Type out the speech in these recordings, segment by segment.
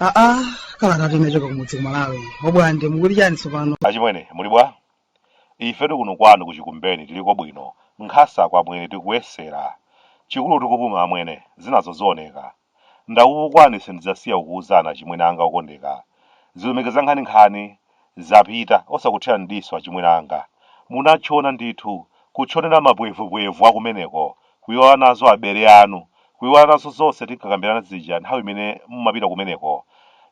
aa kalata yochoka kumudzi kumalawi wobwande mukuti chani tsopano achimwene muli bwa ife tikuno kwanu kuchikumbeni tiliko bwino nkhasa kwa amwene tikuyesera chikulu tikupuma amwene zinazo zioneka Ndakupukwani sindidzasiya kukuuzani achimwene anga okondeka. Zilumika zankhaninkhani, zapita, osakuthirani m'diso achimwene anga. Munatchona ndithu, kutchonera mapwevupwevu akumeneko, kuiwala nazo abale anu, kuiwala nazo zonse tinkakambirana zija nthawi imene mumapita kumeneko.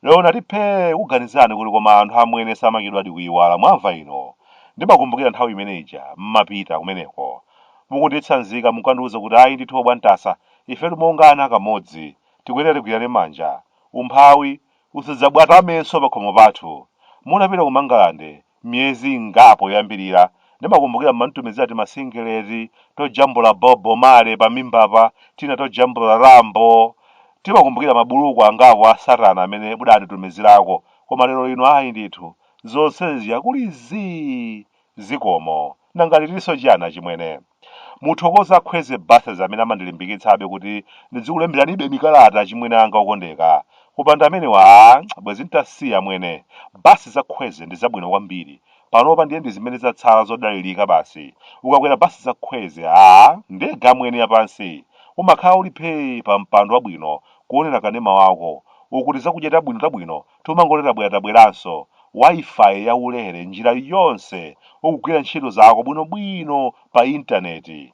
Lero n'nati phee kukuganizirani kuti koma anthu amwene samachedwadi kuiwala, mwamva ino? Ndimakumbukira nthawi imene ija mmapita kumeneko. Mukunditsanzika munkandiuza kuti ayi ndithu obwantasa Ife timongana kamodzi tikuyenera tigwirane manja. Umphawi usadzabwatamenso pakhomo pathu. Munapita ku Mangalande miyezi ingapo yoyambirira, ndimakumbukira mumanditumizira timasingeleti tojambula Bob Marley pamimbapa, tina tojambula Rambo. Ndimakumbukira mabuluku angapo a Satana amene mudanditumizirako. Koma lero lino ayi ndithu. Zonse zija kuli zii! Zikomo. Nanga n'ditinso chani achimwene? Muthokoze a Kwezy Buses amene amandilimbikitsabe kuti ndidzikulemberanibe mikalata achimwene anga okondeka. Kupanda amenewa aah bwezi n'tasiya amwene. Basi za Kwezy ndi zabwino kwambiri. Panopa ndiye ndi zimene zatsala zodalirika basi. Ukakwera basi za Kwezy aah ndege amwene yapansi. Umakhala uli phee pa mpando wabwino kuonera kanema wako uku tizakudya tabwino tabwino tomangoti tabwera tabweranso wifi ya ulere njira yonse ukugwira ntchito zako bwino bwino pa internet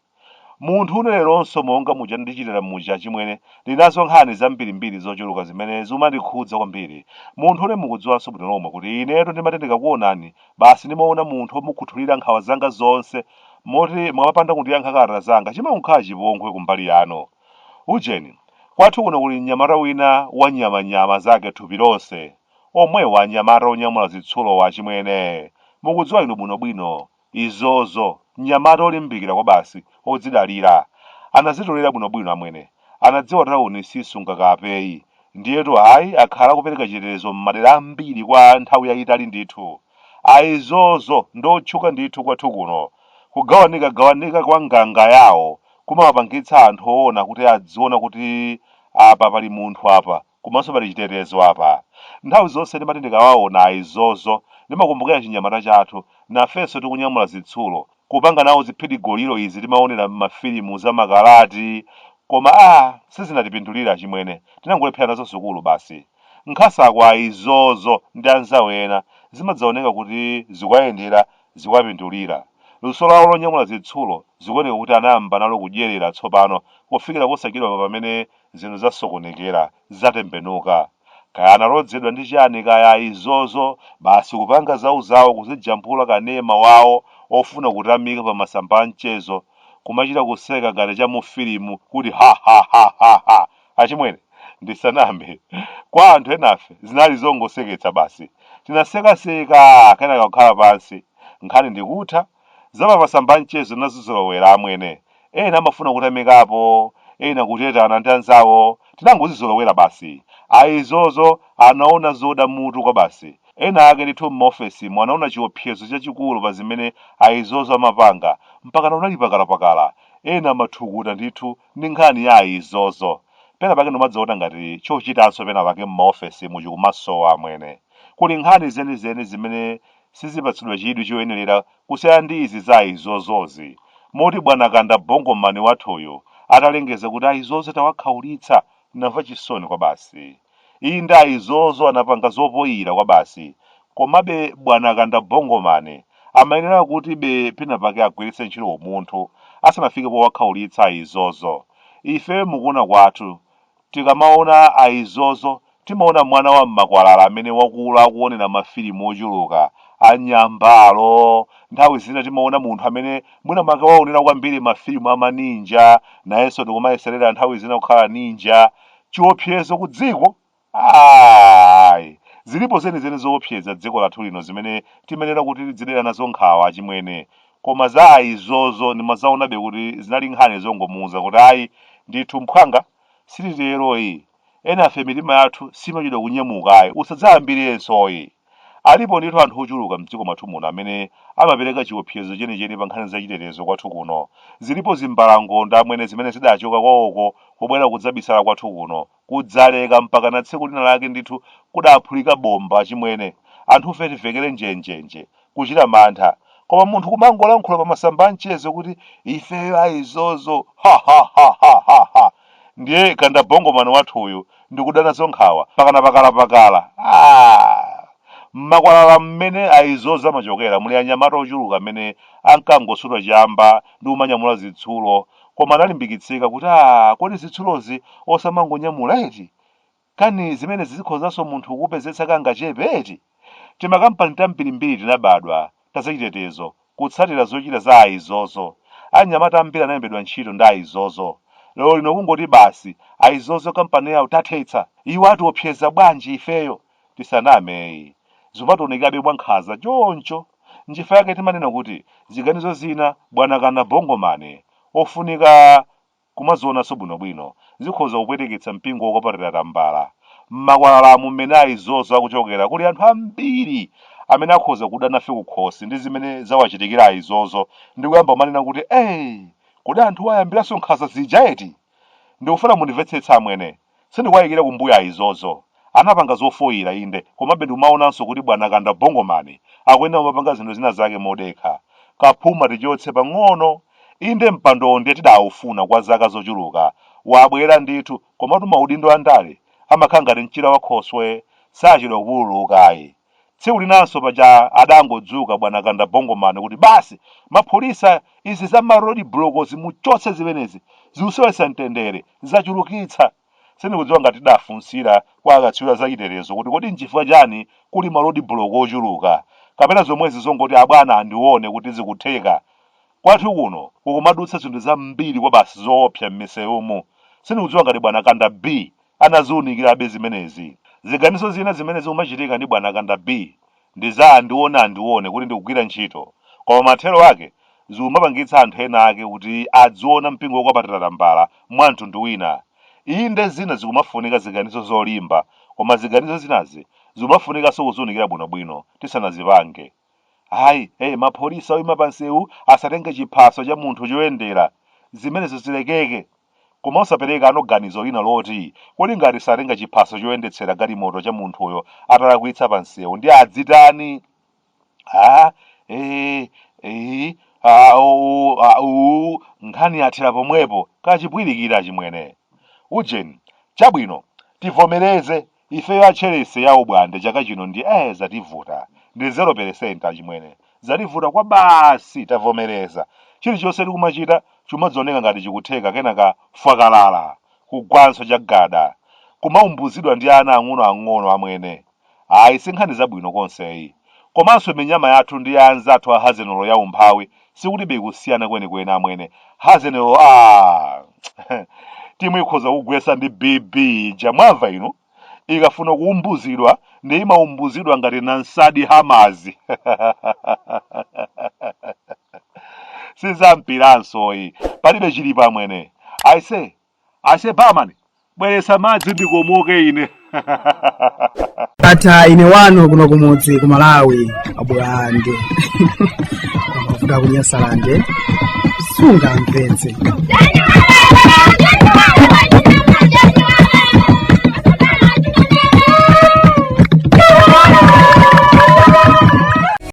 munthune leronso monga muja ndichitira muja achimwene ndinazo nkhani zambirimbiri zochuluka zimene zimandikhudza kwambiri munthune mukudziwanso bwino lomwe kuti inetu ndimati ndikakuonani basi ndimaona munthu omukhuthulira nkhawa zanga zonse moti mukamapanda kundiyankha kalata zanga chimakhala chipongwe kumbali yanu Ujeni, kwathu kuno kuli mnyamata wina wa nyama nyama zake thupi lonse. Omwewa anyamata onyamula zitsulowa achimwene. Mukudziwa inu bwino bwino. Aizozo. Mnyamata olimbikira kwabasi, odzidalira. Anazitolera bwino bwino, amwene. Anadziwa tauni sisunga kapeyi. Ndiyetu ayi akhala akupereka chitetezo m'madera ambiri kwa nthawi yayitali ndithu. Aizozo ndi otchuka ndithu kwathu kuno. Kugawanikagawanika kwa nganga yawo kumawapangitsa anthu oona kuti adziona kuti apa pali munthu apa komanso pali chitetezo apa. Nthawi zonse ndimati ndikawawona Aizozo ndimakumbukira chinyamata chathu nafenso tikunyamula zitsulo kupanga nawo ziphidigoliro izi timaonera mmafilimu za makalati koma a sizinatipindulire achimwene tinangolephera nazo sukulu basi. Nkhasa kwa Aizozo ndi anzawo ena zimadzaoneka kuti zikuwayendera zikuwapindulira. Luso lawo lonyamula zitsulo zikuoneka kuti anayamba nalo kudyerera tsopano kufikira posachedwapa pamene zinthu zasokonekera, zatembenuka. Kaya analodzedwa ndi chani kaya Aizozo basi kupanga zauzawo kuzijambula kanema wawo ofuna kutamika pa masamba a mchezo kumachita kuseka ngati cha mu filimu kuti ha ha ha ha ha! Achimwene ndisaname kwa anthu enafe zinali zongoseketsa basi tinaseka seka kenaka kukhala pansi nkhani ndikutha. Za pa masamba a mchezo tinazizolowera amwene. Ena amafuna kutamikapo, ena kutetana ndi anzawo. Tinangozizolowera basi. Aizozo anaona zoda mutu kwabasi. Ena ake ndithu m'maofesimu anaona chiopsezo chachikulu pa zimene Aizozo amapanga mpakana unali pakalapakala. Ena amathukuta ndithu ndi nkhani ya Aizozo. Pena pake ndimadzaona ngati chochitanso pena pake m'maofesimu chikumasowa amwene. Kuli nkhani zenizeni zimene sizipatsidwa chidwi choyenerera kusiyana ndi izi za Aizozozi, moti bwana Kanda Bongo Man wathuyu atalengeza kuti Aizozo tawakhaulitsa, tinamva chisoni kwabasi. Inde Aizozo anapanga zopoyira kwabasi, komabe bwana Kanda Bongo Man amayenera kutibe penapake agwiritse ntchito umunthu asanafike powakhaulitsa Aizozo. Ife mukuona kwathu Tikamaona aizozo, timaona mwana wa m'makwalala amene wakula akuonera mafilimu ochuluka a nyambalo. Nthawi zina timaona munthu amene mwinamwake waonera kwambiri mafilimu a maninja, nayenso ndikumayeserera nthawi zina kukhala ninja. Chiopsezo ku dziko? Ayi. Zilipo zenizeni zoopseza dziko lathu lino zimene timayenera kuti tidzidera nazo nkhawa, achimwene. koma za aizozo ndimazaonabe kuti zinali nkhani zongomuuza kuti ayi ndithu mphwanga sititeroyi enafe mitima yathu simachedwa kunyamukayi usadzayambirensoyi alipo ndithu anthu ochuluka mdziko mwathu muno amene amapereka chiopsezo chenicheni pa nkhani za chitetezo kwathu kuno zilipo zimbalangondo amwene zimene zidachoka kwawoko kubwera kudzabisala kwathu kuno kudzaleka mpakana tsiku lina lake ndithu kudaphulika bomba achimwene anthufe tivekere njenjenje kuchita mantha koma munthu kumangolankhula pa masamba amchezo kuti ifeyo aizozo ha ha ha ha ha ha ndiye kandabongomani wathuyu ndikuda nazo nkhawa mpakana pakalapakala ah! mmakwalala mmene aizozo amachokera muli anyamata ochuluka amene ankangosuta chamba ndi kumanyamula zitsulo Koma analimbikitsika kuti, Aaa kodi zitsulozi osamangonyamula eti? Kani zimenezi zikhozanso munthu kukupezetsa kangachepe eti? Timakampani tambirimbiri tinabadwa, ta zachitetezo, kutsatira zochita za Aizozo. Anyamata ambiri analembedwa ntchito ndi Aizozo. Lero lino kungoti basi, Aizozo kampani yawo tathetsa! Iwo atiopseza bwanji ifeyo? Tisaname yi. Zumatoonekabe mwa nkhaza choncho. Nchifa yake timanena kuti ziganizo zina bwana Kanda Bongoman ofunika kumazionanso bwino bwino. Zikhoza kupweteketsa mpingo wokwapatira tambala. Mmakwalalamu mmene aizozo akuchokera kuli anthu ambiri amene akhoza kuda nafe kukhosi ndi zimene zawachitikira aizozo ndi kuyamba kumanena kuti ee kodi anthuwa ayambiranso nkhaza zija eti? Ndikufuna mundimvetsetse amwene. Sindikuwayikira kumbuyo Aizozo. Anapanga zofoyira inde komabe ndikumawonanso kuti bwana Kanda Bongoman akuyenera kumapanga zinthu zina zake modekha. Kaphuma tichotse pang'ono. Inde mpandowo ndiye tidawufuna kwa zaka zochuluka. Wabwera ndithu komatu maudindo a ndale amakhala ngati mchira wa khoswe sachedwa kupululuka ayi. Tsiku linanso paja adangodzuka bwana Kanda Bongo Man kuti basi mapolisa izi za ma road blokozi muchotse zimenezi zikusowetsa mtendere, zachulukitsa. Sindikudziwa ngati tidafunsira kwa akatswiri a zachitetezo kuti kodi nchifukwa chani kuli ma road block ochuluka kapena zomwezi zongoti abwana andione kuti zikutheka. Kwathu kuno kukumadutsa zinthu zambiri kwabasi zoopsa mmisewumu. Sindikudziwa ngati bwana Kanda B. anaziunikirabe zimenezi. Ziganizo zina zimene zikumachitika ndi bwana Kanda B ndi za andione andione kuti ndikugwira ntchito koma mathero ake zikumapangitsa anthu ena ake kuti adziona mpingo wokwapatira tambala mwa mtundu wina. Inde zina zikumafunika ziganizo zolimba koma ziganizo zinazi zikumafunikanso kuziunikira bwinobwino tisanazipange. Ayi, ee, mapholisa oima pa nsewu asatenge chiphaso cha munthu choyendera. Zimenezo zilekeke. Koma osaperekano ganizo lina loti, kodi ngati satenga chiphaso choyendetsera galimoto cha munthuyo atalakwitsa pa nsewu ndiye adzitani? A, ee, i, a, o, u, a, uu, nkhani yathera pomwepo, kachipwirikiti achimwene. Ujeni, chabwino, tivomereze, Ifeyo a Chelese ya Ubwande chaka chino ndiye zativuta ndi 0% achimwene zativuta kwabasi tavomereza chilichonse tikumachita chumadzioneka ngati chikutheka kenaka fwakalala kugwanso chagada kumaumbuzidwa ndi ana ang'ono ang'ono amwene ayi sinkhani zabwino konse yi komanso minyama yathu ndi ya anzathu a Hazenolo ya umphawi Sikulibe kusiyana kwenikweni amwene. Hazen lo aah! Timu ikhoza kugwetsana ndi BB ija mwamva inu? Ikafuna kuumbuzidwa ndiye imaumbuzidwa ngati Namsadi Hammers. Sizampiranso ayi. Palibe chilipo amwene. Aise, Aise barman bweretsa madzi ndikomoke ine. Ndatha ine wanu kuno kumudzi ku Malawi abwande amavuta kunyasalande sunga mpenzi